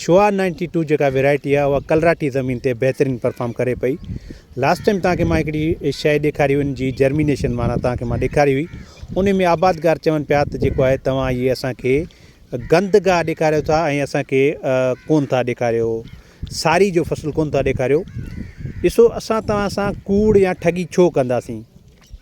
شوا ninety two جيڪا variety آ اها ڪلراٽي زمين تي بهترين پرفام ڪري پئي لاسٽ ٽائيم تان کي مان هڪڙي شئي ڏيکاري هئي ان جي جرمينيشن معنيٰ تان کي مان ڏيکاري هئي انهي ۾ آبادگار چون پيا ته جيڪو آهي توهان هي اسان کي گند گاهه ڏيکاريو ٿا ۽ اسان کي ڪون ٿا ڏيکاريو ساري جو فصل ڪون ٿا ڏيکاريو ڏسو اسان توهان سان ڪوڙ يا ٺڳي ڇو ڪنداسين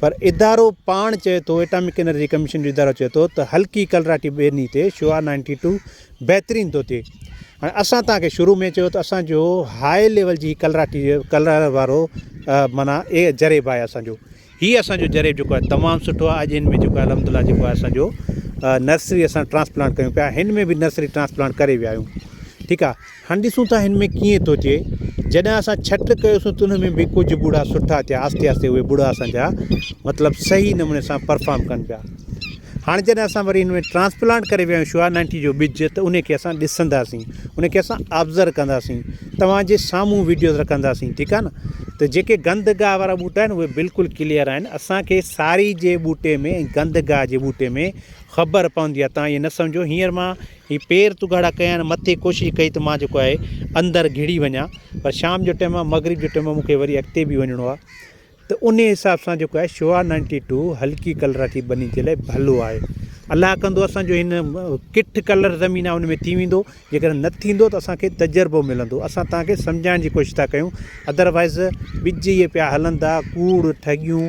پر ادارو پاڻ چئي ٿو ايٽامڪ انرجي ڪميشن جو ادارو چئي ٿو ته هلڪي ڪلراٽي ٻيني تي شعاع نائنٽي ٽو بهترين ٿو ٿئي هاڻي اسان توهان کي شروع ۾ چيو ته اسان جو هاء ليول جي ڪلراٽي ڪلر وارو معنيٰ اي جريب آهي اسانجو هي اسانجو جريب جيڪو آهي تمام سٺو آهي اڄ هن ۾ جيڪو آهي الحمد لله جيڪو آهي اسانجو نرسري اسان ٽرانسپلانٽ ڪيون پيا هن ۾ به نرسري ٽرانسپلانٽ ڪري ويا آهيون ٺيڪ آهي هاڻ ڏسون ٿا هن ۾ ڪيئن ٿو اچي. جڏهن اسان ڇٽ ڪيوسون ته ان ۾ به ڪجهه ٻڙا سٺا ٿيا آهستي آهستي اهي ٻڙا اسان جا مطلب صحيح نموني سان پرفام ڪن پيا هاڻ جڏهن اسان وري هن ۾ ٽرانسپلانٽ ڪري ويا آهيون شوا نائنٽي جو ٻج ته ان کي اسان ڏسنداسين ان کي اسان آبزر ڪنداسين توهان جي سامهون ويڊيوز رکنداسين ٺيڪ آهي نه ته جيڪي گند گاهه وارا ٻوٽا آهن اهي بلڪل ڪليئر آهن اسان کي ساري جي ٻوٽي ۾ گند گاهه جي ٻوٽي ۾ خبر پوندي آهي توهان ائين نه سمجهو هينئر مان هي پير تو ڳاڙها ڪيا آهن مٿي ڪوشش ڪئي ته مان جيڪو آهي اندر گهڙي وڃا پر شام جو ٽيم آهي مغرب جو ٽيم آهي مونکي وري اڳتي به وڃڻو آهي ته ان جي حساب سان جيڪو آهي شوا نائنٽي ٽو هلڪي ڪلر جي ٻني جي لاء ڀلو آهي الله ڪندو اسانجو هن ڪٺ ڪلر زمين آهي ان ۾ ٿي ويندو جيڪڏهن نه ٿيندو ته اسانکي تجربو ملندو اسان تانکي سمجهائڻ جي ڪوشش ٿا ڪيون ادروائز ٻج اهي پيا هلندا ڪوڙ ٺڳيون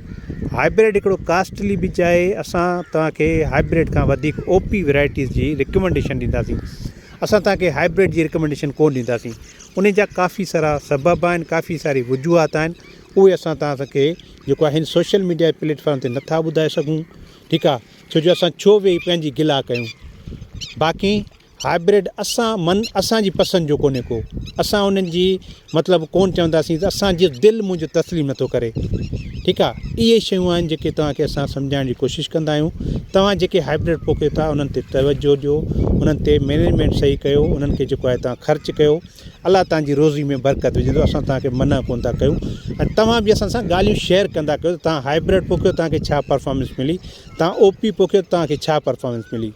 هائبرڊ هڪڙو ڪاسٽلي ٻج آهي اسان توهان کي هائبرڊ کان وڌيڪ او پي ويرائٽيز جي رڪمينڊيشن ڏينداسين اسان توهان کي هائبرڊ جي رڪمينڊيشن ڪونه ڏينداسين انهي جا ڪافي سارا سبب آهن ڪافي ساري وجوهات آهن اهي اسان توهان کي جيڪو آهن سوشل ميڊيا پليٽفارم تي نٿا ٻڌائي سگهون ٺيڪ آهي ڇو جو اسان ڇو ويهي پنهنجي گلا ڪيون باقي هائبرڊ اسان من اسان جي پسند جو ڪونهي ڪو اسان انهن جي مطلب ڪون چونداسين ته اسان جي دل منهنجو تسليم نٿو ڪري ٺيڪ آ اهي شيون آهن جيڪي توهان کي اسان سمجهائڻ جي ڪوشش ڪندا آهيون توهان جيڪي هائبرڊ پوکيو ٿا انهن تي توجهه ڏيو انهن تي مينجمينٽ صحيح ڪيو انهن کي جيڪو آهي توهان خرچ ڪيو الله توهان جي روزي ۾ برڪت وجهندو اسان توهان کي منع ڪون ٿا ڪيون ۽ توهان به اسان سان ڳالهيون شيئر ڪندا ڪيو ته توهان هائبرڊ پوکيو توهان کي ڇا پرفارمنس ملي توهان او پي پوکيو توهان کي ڇا پرفارمنس ملي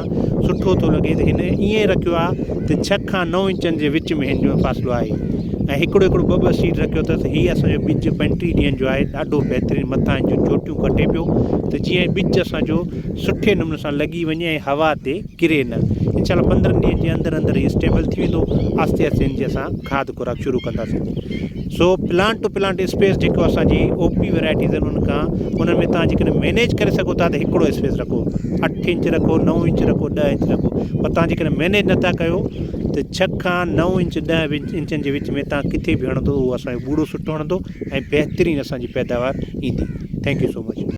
سٺو ٿو لڳي ته هن ائين رکيو آهي ته ڇهه کان نو انچن جي وچ ۾ هن جو فاصلو آهي ۽ هڪڙو هڪڙو ٻه ٻه سيٽ رکيو اٿس هي اسانجو ٻج پنٽيهه ڏينهن جو آهي ڏاڍو بهترين مٿان هن جون چوٽيون ڪٽي پيو ته جيئن ٻج اسانجو سٺي نموني سان لڳي وڃي ۽ هوا تي ڪري نه انشاء الله پندرهن ڏينهن جي اندر اندر هي اسٽيبل ٿي ويندو آهستي آهستي هن جي اسان کاد خوراڪ شروع ڪنداسين سو پلانٽ ٽو پلانٽ اسپيس جيڪو اسان جي او پي ورايٽيز آهن ان کان ان ۾ تان جي ڪڏهن مينيج ڪري سگهو ٿا ته هڪڙو اسپيس رکو اٺ انچ رکو نو انچ رکو ڏهه انچ رکو پر تان جي ڪڏهن مينيج نٿا ڪيو ته ڇهه کان نو انچ ڏهه انچن جي وچ ۾ تان ڪٿي به هڻندو اهو اسان جو ٻوڙو سٽو هڻندو ۽ بهترين اسان جي پيداوار ايندي ٿينڪ يو سو مچ